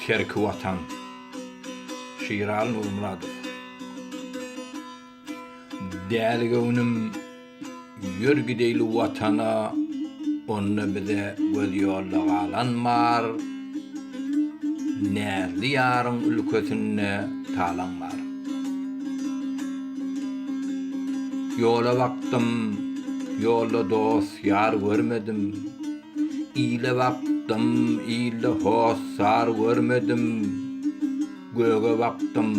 Terki watan. Şiraly Nurmyradow. Däli göwnüm, ýör gideýli Watana, onda bize göz ýolda galan bar, Näzli ýaryň ülkesinde talaň bar. Ýola bakdym, ýolda dost-ýar görmedim, Ile bakdym, ilde hossar görmedim, Göge bakdym,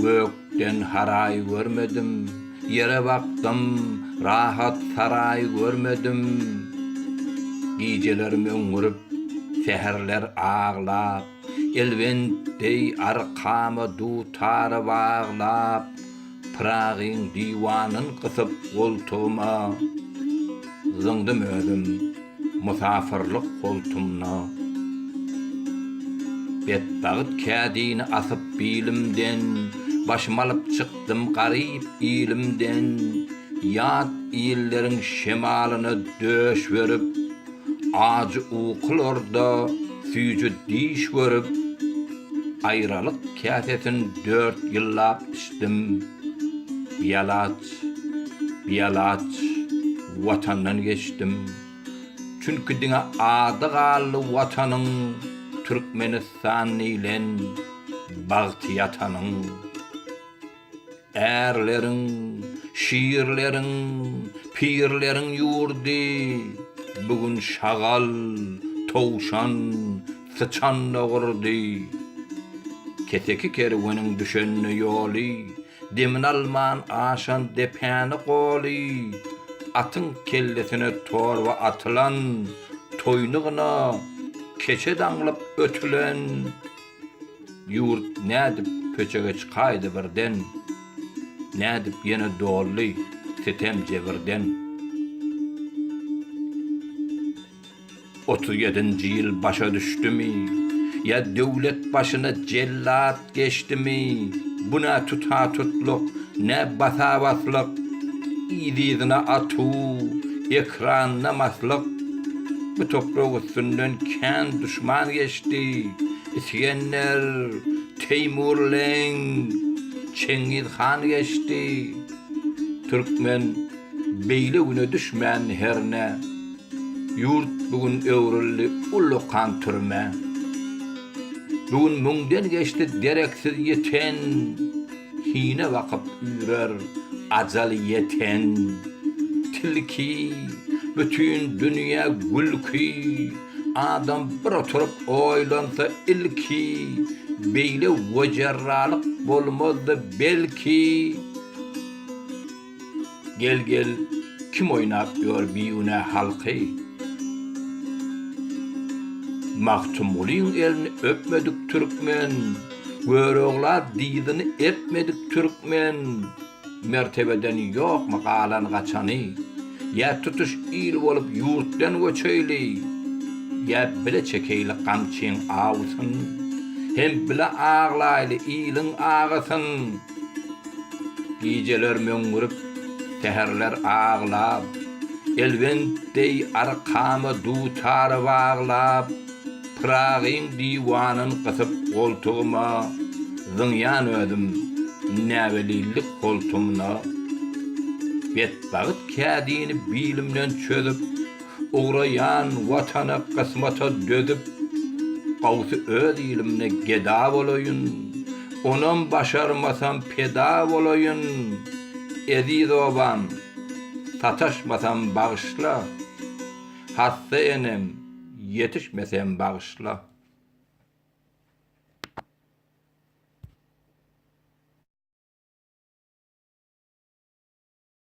gökden haraý görmedim, Ýere bakdym, rahat saraý görmedim. Gijeler möňňürip, säherler aglap, Elwent deý arkama dutary baglap, Pyragyň diwanyn gysyp goltugyma, Zyňdym özüm musafyrlyk holtumna. Betbagt kädini asyp bilimden, Başym alyp çykdym garyp ilimden, Ýat illeriň şemalyna döş berip, Ajy ukularda süýji diş görüp, aýralyk käsesin dört ýyllap içdim. Bialaç, bialaç Watandan geçdim. Çünki diňe ady galdy Watanyň, Türkmenistan diýlen bagty ýatanyň. Ärleriň, şirleriň, pirleriň ýurdy, Bu gün şagal, towşan, syçan-da gurdy. Keseki kerweniň düşende ýoly, Demini alman aşan depäni goly, Atyň kellesine torba atylan, Toýny gyna, keçe daňlyp ötülen. Ýurt nädip köçege çykaýdy birden, Nädip ýene doldy sitem jebirden. Otuz ýedinji ýyl başa düşdümi, Ýa döwlet başyna jellat geçdimi, Bu nä tuta-tutlyk, nä basa-baslyk, Yz-yzyna atuw, ekranda maslyk. Bu toprak üstünden kän duşman geçdi, Isgender, Teýmurleň, Çengiz han geçdi. Türkmen beýle güne düşmän hernä. Ýurt bu gün öwrüldi ullakan türmä. Bu gün müňden geçdi dereksiz ýiten, Hine bakyp üýrer ajal ýeten. Tilki, bütin dünýä gülki. Adam bir oturyp oýlansa ilki, Beýle wejerralyk bolmazdy belki. Gel gel kim oýnap ýör bigünä halky? Magtymgulyň elini öpmedik türkmen, Görogla dyzyny epmedik türkmen. Mertebeden ýokmy galan gaçany, Ýa tutuş il bolup ýurtdan göçeýli, Ýa bile çekeýli gamçyň awusyn, Hem bile aglaýly iliň agysyn. Gijeler möňňürip, säherler aglap, Elwent deý arkama dutary baglap, Pyragyň diwanyn gysyp goltugyma Zyňýan özüm näwelillik holtumyna Betbagyt kädini bilimden çözüp Ugraýan Watana kysmata dözüp Gawsy öz ilimde geda bolaýyn Onam başarmasam peda bolaýyn Eziz obam sataşmasam bagyşla Hassa enem Ýetişmesem bagyşla.